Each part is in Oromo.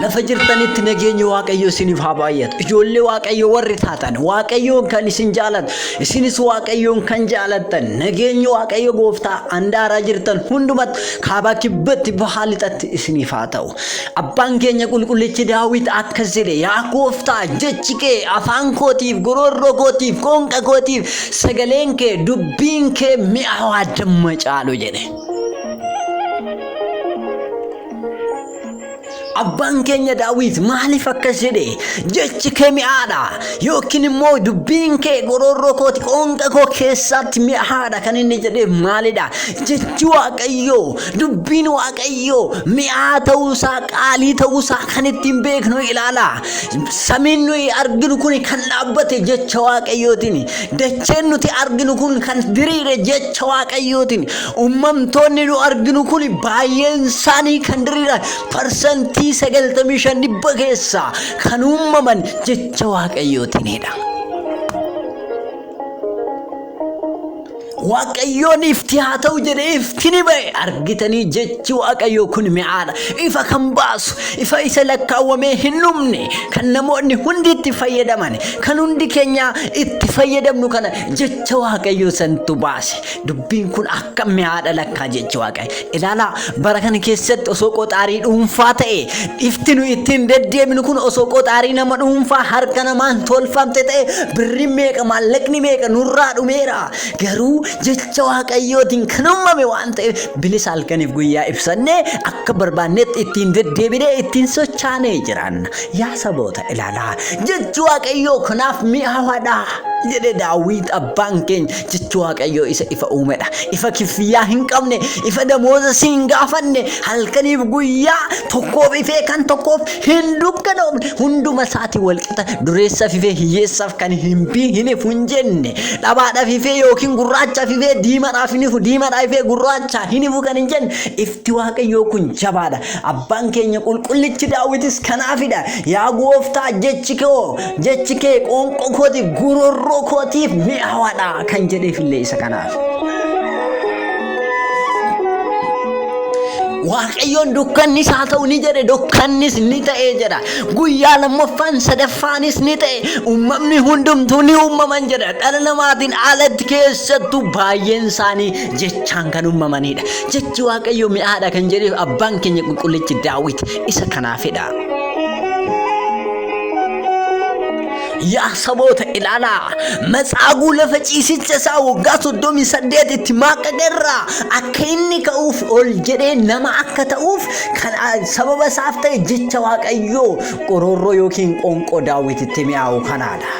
Lafa jirtanitti nageenyi Waaqayyo isiniif haa baay'atu. Ijoollee Waaqayyo warri taatan Waaqayyoon kan isin jaalatu isinis Waaqayyoon kan jaalattan nageenyi Waaqayyo gooftaa handaaraa jirtan hundumatti kaabaa kibbatti bahaa lixatti isiniif haa ta'u. Abbaan keenya qulqullichi Daawit akkas jedhe, Yaa gooftaa, jechi kee afaan kootiif, goroorroo kootiif, qoonqa kootiif, sagaleen kee, dubbiin kee mi'aawaa damma caalu jedhe. Abbaan keenya Daawit maaliif akkas jedhe? Jechi kee mi'aadha yookiin immoo dubbiin kee goroorroo kooti qoonqa koo keessaatti mi'aadha kan inni jedheef maalidha? Jechi Waaqayyoo Dubbiin Waaqayyoo mi'aa ta'uusaa qaalii ta'uusaa kan ittiin beeknu ilaala. Samiin nuyi arginu kun kan dhaabbate jecha Waaqayyootiin. Dacheen nuti arginu kun kan diriire jecha Waaqayyootiin. Uumamtoonni nu arginu kun baay'een isaanii kan diriiran parsantii 95 dhibba keessaa kan uumaman jecha Waaqayyootiinidha. Waaqayyoon ifti haa ta'u jedhee ifti ni ba'e argitanii jechi waaqayyoo kun mi'aadha ifa kan baasu ifa isa lakkaawwamee hin dhumne kan namoonni hundi itti fayyadaman kan hundi keenya itti fayyadamnu kana jecha waaqayyoo santu baase dubbiin kun akka mi'aadha lakkaa jechi waaqayyo Ilaalaa, bara kana keessatti osoo qoxaarii dhuunfaa ta'e, ifti nu ittiin deddeebinu kun osoo qoxaarii nama dhuunfaa harka namaan tolfamte ta'e, birri meeqa maallaqni meeqa nurraa dhumeera. Garuu jecha Waaqayyootiin kan uumame waan ta'eef bilisa halkaniif guyyaa ibsannee akka barbaannetti ittiin deddeebinee ittiin sochaanee jiraanna. Yaa saboota ilaalaa, jechi Waaqayyoo kanaaf mi'aawaadha jedhe Daawit abbaan keenya. Jechi Waaqayyoo isa ifa uumedha. Ifa kiffiyyaa hin qabne, ifa damooza si hin gaafanne, halkaniif guyyaa tokkoof ifee kan tokkoof hin dukkanoofne, hunduma isaati walqixa dureessaaf ifee hiyyeessaaf kan hin bii hin ifu hin jenne, dhabaadhaaf ifee yookiin gurraachaaf ifee diimadhaaf hin ifu, diimadhaa ifee gurraachaa hin ifu kan hin jenne, ifti Waaqayyoo kun jabaadha. Abbaan keenya qulqullichi daawwitis kanaafidha. Yaa gooftaa jechi koo Jechi kee qoonqoo kooti gururroo kootiif mi'aawaadha kan jedheef illee isa kanaaf. Waaqayyoon dukkannis haa ta'u ni jedhe dukkannis ni ta'e jedha. Guyyaa lammaffaan sadaffaanis ni ta'e uumamni hundumtuu ni uumaman jedha. Dhala namaatiin alatti keessattuu baay'een isaanii jechaan kan uumamanidha. Jechi Waaqayyo mi'aadha kan jedheef abbaan keenya qulqullichi daawwiti isa kanaafidha. Yaa saboota ilaalaa matsaaguu lafa ciisicha isaa waggaa soddomii saddeetitti maaqqaqe irraa akka inni ka'uuf ol jedhee nama akka ta'uuf kan sababa isaaf ta'e jecha waaqayyoo qoroorroo yookiin qoonqoo daawwititti mi'aawu kanaadha.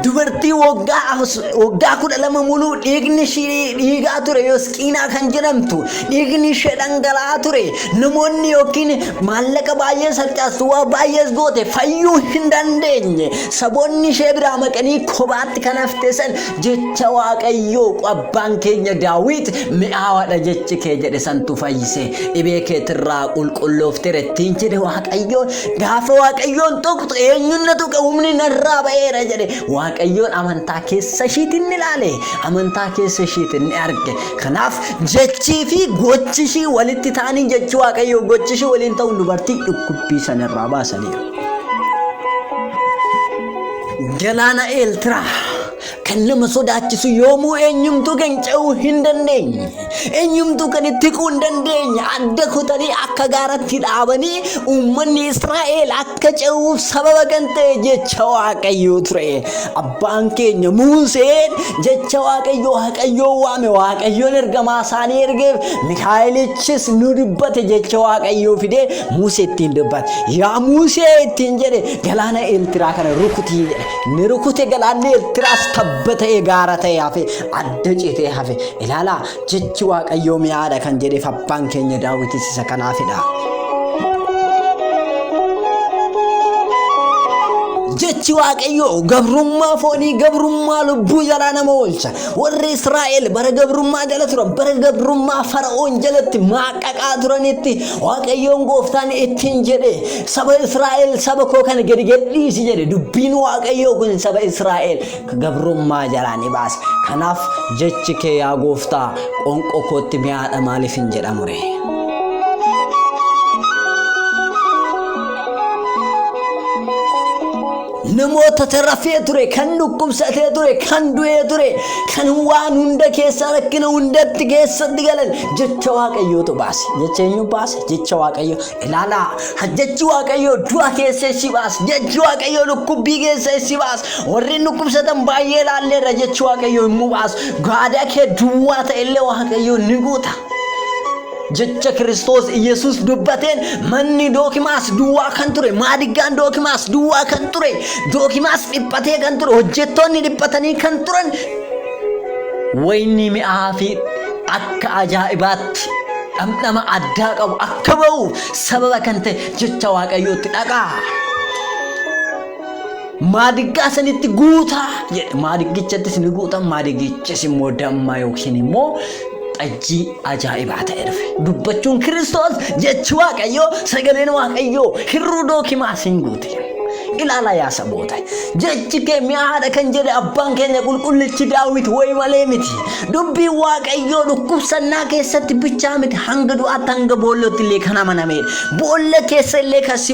Dubartii waggaa waggaa kudha lama muluu dhiigni ishii dhiigaa ture yosqiinaa kan jedhamtu dhiigni ishee dhangala'aa ture namoonni yookiin maallaqa baay'ee sarcaastu waa baay'ees goote fayyuu hin dandeenye saboonni ishee biraa maqanii kophaatti kan hafte san jecha waaqayyoo abbaan keenya daawit mi'aawaadha jechi kee jedhe santu fayyise dhibee keetirraa qulqulloofteera ittiin jedhe waaqayyoon Gaafa Waaqayyoon tuqxu eenyuun na tuqe humni narraa ba'eera jedhe Waaqayyoon amantaa keessa ishiitiin ni ilaale amantaa keessa ishiitiin ni arge kanaaf jechii fi gochi ishii walitti ta'anii jechi Waaqayyoo gochi ishii waliin ta'uun dubartii dhukkubbii sana irraa baasaniiru. Galaana Eeltiraa. Kan nama sodaachisu yoomuu eenyumtuu kan ce'uu hin dandeenye. Eenyumtuu kan itti hiquu hin dandeenye. Adda kutanii akka gaaratti dhaabanii uummanni Israa'el akka ce'uuf sababa kan ta'e jecha Waaqayyoo ture. Abbaan keenya Muuseen jecha Waaqayyoo Waaqayyoo waame Waaqayyoon ergamaa isaanii ergeef Mikaa'elichis nu dubbate jecha Waaqayyoo fidee Muusee ittiin dubbate. Yaa Muusee ittiin jedhe galaana Eertiraa kana rukutii jedhe. ni rukute galaanni Ertiraas tabba ta'ee gaara ta'ee hafe adda citee hafe ilaalaa jechi waaqayyoo mi'aadha kan jedheef abbaan keenya daawwitis isa kanaafidha. Jechi waaqayyoo gabrummaa foonii gabrummaa lubbuu jalaa nama oolcha. Warri Israa'el bara gabrummaa jala turan bara gabrummaa fara'oon jalatti maaqaqaa turanitti waaqayyoon gooftaan ittiin jedhe Saba Israa'el saba koo kana gadi gadhiisi jedhe dubbiin waaqayyoo kun saba Israa'el ka gabrummaa jalaa ni baasa. Kanaaf jechi kee yaa gooftaa qoonqoo kootti mi'aadha maaliif hin jedhamu ree? namoota tarafee ture kan dhukkubsatee ture kan du'ee ture kan waan hunda keessa rakkina hundatti keessatti galan jecha waaqayyootu baase jecha eenyu baase jecha waaqayyoo Ilaalaa, jechi Waaqayyoo du'a keessa si baas, jechi Waaqayyoo dhukkubbii keessa si baas, warreen dhukkubsatan baay'ee ilaalleerra jechi Waaqayyoo immoo baas, gaadaa kee duwwaa ta'ellee Waaqayyoo ni guuta. Jecha Kiristoos Iyyasuus dubbateen manni dookimaas duwwaa kan ture, maadiggaan dookimaas duwwaa kan ture, dookimaas dhiphatee kan ture, hojjettoonni dhiphatanii kan turan Wayinni mi'aa fi akka ajaa'ibaatti dhamdhama addaa qabu akka ba'u sababa kan ta'e jecha Waaqayyootti dhaqaa. Maadiggaa sanitti guutaa jedhe. Maadigichattis ni guutan, maadigichis immoo damma yookiin immoo xajjii ajaa'ibaa ta'e dhufe. Dubbachuun Kiristoos jechi Waaqayyoo sagaleen Waaqayyoo hirruu dookimaas hin guute. Ilaala yaa saboota. Jechi kee mi'aadha kan jedhe abbaan keenya qulqullichi daawwit wayi malee miti. Dubbiin Waaqayyoo dhukkubsannaa keessatti bichaa miti hanga du'aatti hanga boollootti illee kan amanameedha. Boolla keessa illee kan si